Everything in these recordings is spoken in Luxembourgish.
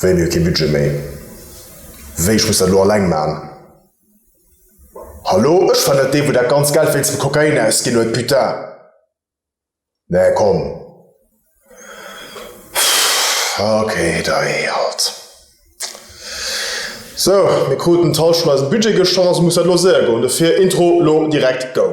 Wéi, mir hu kee Budget méi? Wéi, ech muss dat elo alleng man? Hallo, ech war net dee wou dat ganz Geld wéinst dem Kokain ausginn huet, putain! Mä komm, pff, ok, da hee halt. Sou, mir kruten d'Halschent eisen Budget geschonn, also muss dat elo séier goen, dofir Intro lo direkt, go!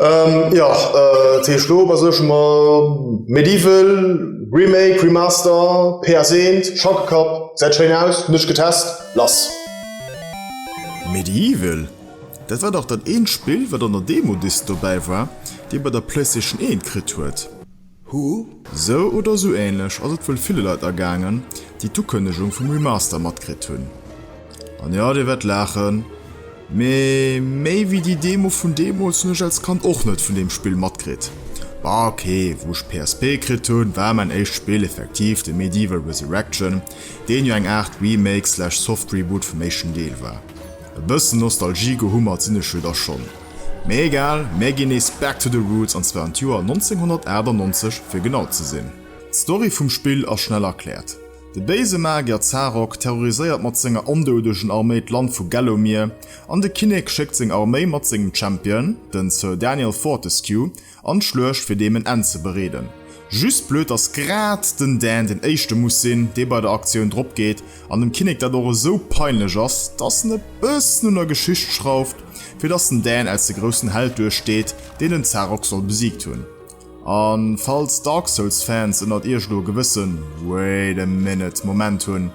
Ähm, ja, äh, T. Schlob as sech ma Medieval, Remake, Remaster, PS1, Schackelkapp, säit schéin aus, nech getest, lass. Medieval? Dat war dach dat eent Spill, wat an der Demo-Disk dobäi war, déi ee bei der PlayStation 1 kritt huet. Huh? Sou oder sou ähnlech ass et wuel ville Leit ergaangen, déi d'Ukënnegung vum Remaster matkritt hunn. An jo, dir wäert laachen, mee méi wéi déi Demo vun deemools hunn ech als Kand och net vun deem Spill matkritt. Bah ok, wou ech d'PSP kritt hunn, war mäin éischt Spill effektiv de Medieval Resurrection, deen jo eng Aart Remake slash Soft Reboot vum éischten Deel war. E bëssen Nostalgie-Gehummert sinn ech jo da schonn. Mee egal, mär ginn nees back to the roots an zwar an d'Joer 1998 fir genau ze sinn. D'Story vum Spill ass schnell erkläert. De béise Magier Zarok terroriséiert mat senger ondoudegen Arméi d'Land vu Gallowmere an de Kinnek schéckt seng Arméi mat sengem Champion, den Sir Daniel Fortescue, An d'Schluecht fir deem en Enn ze bereeden. Just blöd dass grad den Dan den éischte muss sinn dee bei der Aktioun drop geet an dem Kinnek dat och esou peinlech ass dass en e bëssen un der Geschicht schrauft fir dass den Dan als de groussen Held duer steet deen den Zarok soll besiegt hunn. An falls Dark Souls Fans ënnert iech elo e gewëssen Wait a minute Moment hunn,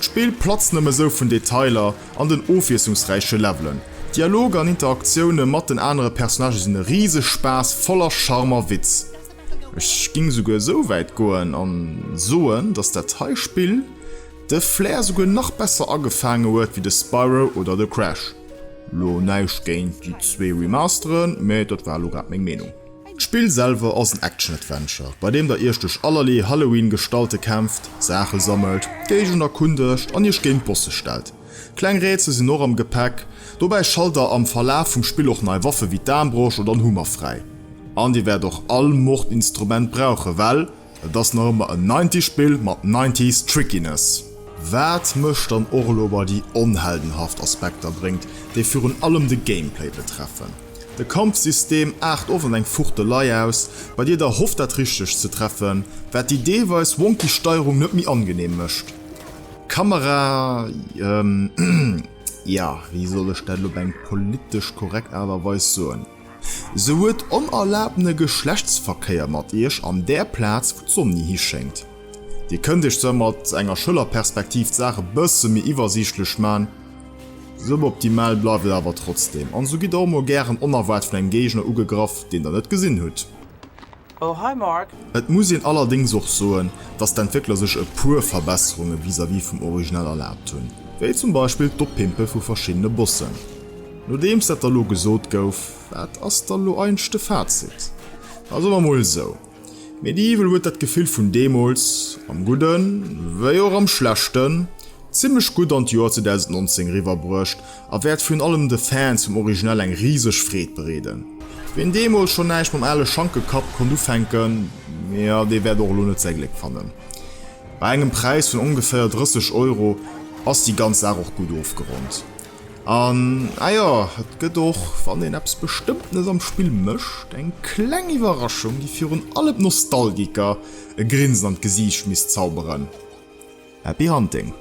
D'Spill platzt nëmme sou vun Detailer an den ofwiesslungsräiche Levelen. Dialoger an Interaktioune mat den anere Personnagë sinn e riseg Spaass, voller Charme a Witz. Ech géing souguer sou wäit goen a soen, dass dat hei Spill de Flair souguer nach besser agefaange huet wéi de Spyro oder de Crash. Lo näischt géint déi zwee Remasteren, mä dat war elo grad meng Meenung. D'Spill selwer ass en Action-Adventure, bei deem der iech duerch allerlee Halloween-Gestalte kämpft, Saache sammelt, d'Géigend erkundegt an iech géint Bosse stellt. Kleng Rätsel sinn och am Gepäck, dobäi schalt der am Verlaf vum Spill och nei Waffe wéi d'Aarmbrosch oder en Hummer fräi. An dir wäert och all Mordinstrument brauchen, well. Et ass nach ëmmer en Ninety Spill mat Nineties Trickiness. Waat mech dann och elo bei déi onheldenhaft Aspekter bréngt, déi virun allem de Gameplay betreffen. De Kampfsystem aart oft an eng Fuchtelei aus, bei dir der hofft dat richtegt ze treffen, waat déi deelweis wonky Steierung net méi angenehm mecht. D'Kamera, ja wéi soll ech dat elo op eng politesch korrekt Art a Weis soen? Se huet onerlaabtene Geschlechtsverkéier mat iech an där Plaz, wou d'Sonn hischéngt. Dir kënnt iech se mat enger Schëllerperspektiv d'Saach e bësse méi iwwersiichtlech man. Suboptimal bleift et awer trotzdeem, an esou gitt der och mol gären onerwaart vun engem Géigner ugegraff, deen der net gesinn hutt. Oh hi Marc! Et muss een allerdéngs och soen, dass d'Entwéckler sech e puer Verbesserunge vis-à-vis vum Original erlaabt hunn, wéi zum Beispill d'Oppimpe vu verschiddene Bossen. Nodeems dat da lo gesot gouf, wat ass da lo eigentlech de Fazit? Da soe mer mol esou, Medieval huet dat Gefill vun deemools, am Gudden wéi och am Schlechten, zimmlech gutt an d'Joer 2019 eriwwerbruecht, A wäert virun allem de Fans vum Original eng riseg Freed bereeden. Ween deemools schonn näischt mam ale Schankekapp konnt ufänken, jo, dee wäert och elo net säi Gléck fannen. Bei engem Präis vun ongeféier 30 Euro ass déi ganz Saach och gutt ofgeronnt. An, ah jo, et gëtt och, wann een eppes Bestëmmtenes am Spill mécht, eng kleng Iwwerraschung, déi virun allem d'Nostalgiker e Grinsen an d'Gesiicht misst zauberen. Happy Hunting!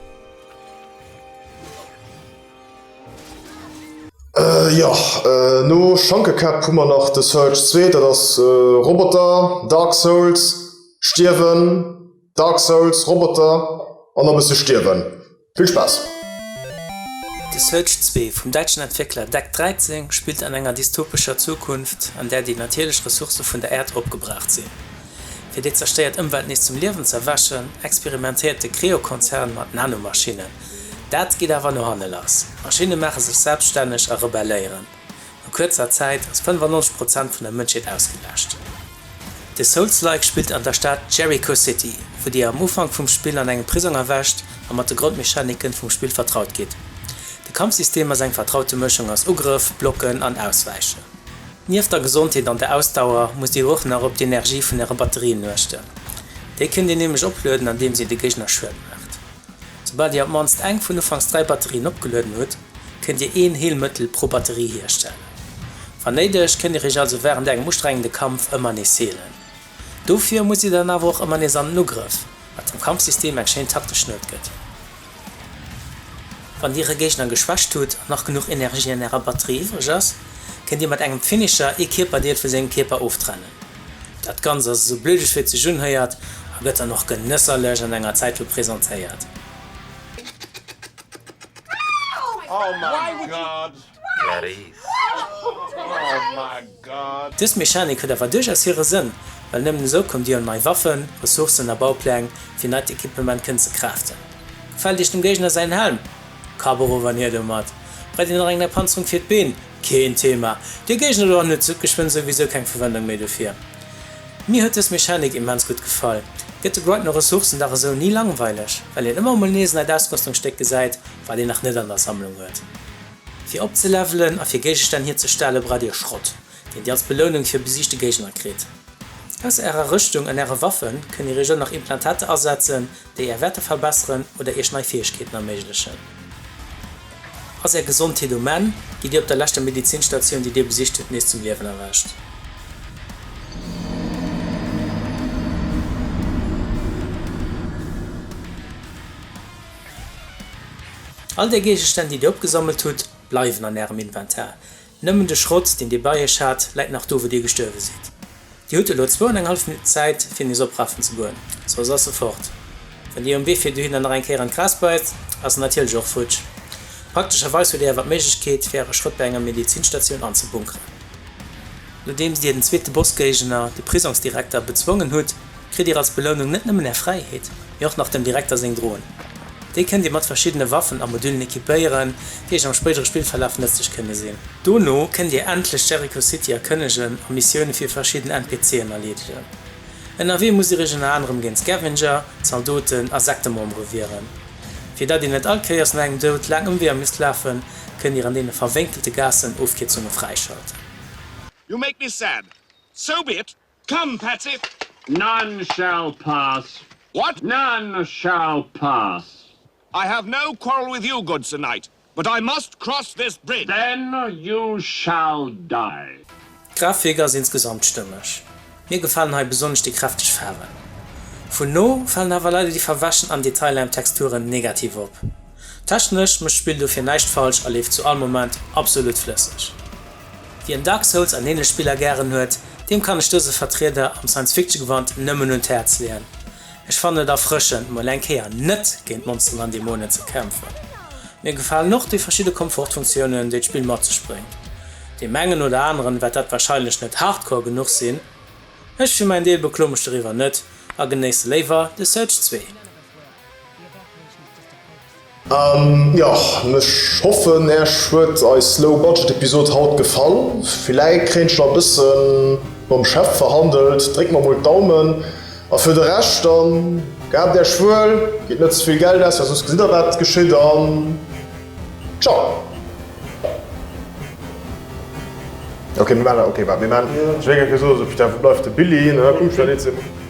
Jo, no Schankekäpp hu mer nach The Surge 2, dat ass Roboter, Dark Souls, Stierwen, Dark Souls, Roboter an e bësse Stierwen. Vill Spaass! The Surge 2 vum däitschen Entwéckler Deck 13 spillt an enger dystopescher Zukunft, an där déi natierlech Ressource vun der Äerd opgebraucht sinn. Fir déi zerstéiert Ëmwelt nees zum Liewen ze erwächen, experimentéiert de Creo-Konzern mat Nanomaschinnen. Dat geet awer no hanne lass, D'Maschinne maache sech selbstänneg a rebelléieren. No kuerzer Zäit ass 95 Prozent vun der Mënschheet ausgelaascht. De Souls-like spillt an der Stad Jericho City, wou Dir am Ufank vum Spill an engem Prisong erwächt a mat de Grondmechaniken vum Spill vertraut gitt. De Kampfsystem ass eng vertraute Mëschung aus Ugrëff, Blocken an Auswäichen. Nieft der Gesondheet an der Ausdauer musst Dir och nach op d'Energie vun Äre Batterien uechten. Déi kënnt Dir nämlech oplueden andeems Dir de Géigner Schued maacht. Soubal Dir op d'mannst eng vun ufanks 3 Batterien opgelueden hutt, kënnt Dir een Heelmëttel pro Batterie hierstellen. Wann néideg, kënnt Dir Iech also wärend engem ustrengende Kampf ëmmer nees heelen. Dofir muss dir dann awer och ëmmer nees an den Ugrëff, wat dem Kampfsystem eng schéin taktesch Nuet gëtt. Wann dir e Géigner geschwächt hutt an nach genuch Energie an ärer Batterie iwwreg ass, kënnt dir mat engem Finisher ee Kierperdeel vu sengem Kierper oftrennen. Dat Ganzt ass esou bluteg wéi et sech unhéiert a gëtt dann och genësserlech an enger Zäitlupp presentéiert. Dës Mechanik huet awer duerchaus hire Sënn, well nëmmen esou kommt Dir un nei Waffen, Ressourcen a Baupläng, fir neit Equipement kënnen ze craften. Gefält Iech dem Géigner säin Helm? Kapp erof an hier domat! Brett Dir nach eng Erpanzerung fir d'Been? Keen Thema! Dir Géigner do hannen huet geschwënn souwisou keng Verwendung méi dofir. Mir huet dës Mechanik immens gutt gefall. Gëtt de Brightoner Ressourcen-Dag esou ni langweileg, well een ëmmer emol nees e neit Ausrëstungsstéck gesäit, wat een nach net an der Sammlung huet. Fir opzelevelen a fir Géigestänn hierzestellen, braucht Dir Schrott, deen Dir als Belounung fir besiegte Géigner kritt. Ausser Ärer Rëschtung an Äre Waffen kënnt Dir Iech och nach Implantater asetzen, déi Är Wäerter verbesseren oder Iech nei Fäegkeeten erméiglechen. Ass Är Gesondheet um Enn, gitt Dir op der leschter Medizinstatioun, déi Dir besicht hutt, nees zum Liewen erwächt. All déi Géigestänn, déi Dir opgesammelt hutt, bleiwen an Ärem Inventar. Nëmmen de Schrott, deen Dir bei Iech hat, läit nach do, wou Dir gestuerwe sidd. Dir hutt elo zwou an eng hallef Minutten Zäit, fir en nees oprafen ze goen, soss ass e fort. Wann Dir um Wee fir dohinner nach eng Kéier an d'Gras bäizt, ass en natierlech och futsch. Praktescherweis hutt Dir awer d'Méiglechkeet, fir Äre Schrott bei enger Medizinstatioun anzebunkeren. Nodeems Dir den zweete Bossgéigner, de Prisongsdirekter, bezwongen hutt, kritt Dir als Belounung net nëmmen Är Fräiheet, mee och nach dem Direkter seng Droen. Déi kënnt Dir mat verschiddene Waffen a Modüllen equipéieren, déi Iech am spéidere Spillverlaf nëtzlech kënne sinn. Dono kënnt Dir endlech Jericho City erkënnegen a Missioune fir verschidden NPC'en erleedegen. Ënnerwee musst Dir Iech ënner anerem géint Scavenger, Zaldoten a Sektemembere wieren. Fir datt Dir net all Kéiers no engem Doud laang Ëmweeër misst lafen, kënnt Dir an deene verwénkelte Gaassen Ofkierzunge fräischalten. You make me sad. So be it. Come Petze! None shall pass. What? None shall pass. I have no quarrel with you, good Sir Knight, but I must cross this bridge. Then you shall die. D'Grafik ass insgesamt stëmmeg. Mir gefalen hei besonnesch déi kräfteg Faarwen. Vu no falen awer leider déi verwäschen an Detailaarm Texturen negativ op. Technesch mécht d'Spill dofir näischt falsch a leeft zu all Moment absolut flësseg. Wien Dark Souls an ähnlech Spiller gären huet, deem kann ech dëse Vertrieder am Science-Fiction-Gewand nëmmen un d'Häerz leeën. Ech fannen et erfrëschend, mol eng Kéier net géint Monsteren an Dämonen ze kämpfen. Mir gefalen och déi verschidde Komfortfunktiounen, déi d'Spill mat sech bréngt. Deem engen oder aneren wäert dat wahrscheinlech net hardcore genuch sinn. Ech fir mäin Deel beklo mech doriwwer net a genéisse léiwer The Surge 2. Joch, ech hoffen Äech huet eis Low Budget Episode haut gefall. Villäit kréien ech nach e bësse mam Chef verhandelt, dréckt mer mol d'Daumen. A fir de Rescht dann, gehabt Äech wuel, gitt net ze vill Geld aus, well soss gesitt der wat geschitt an ciao.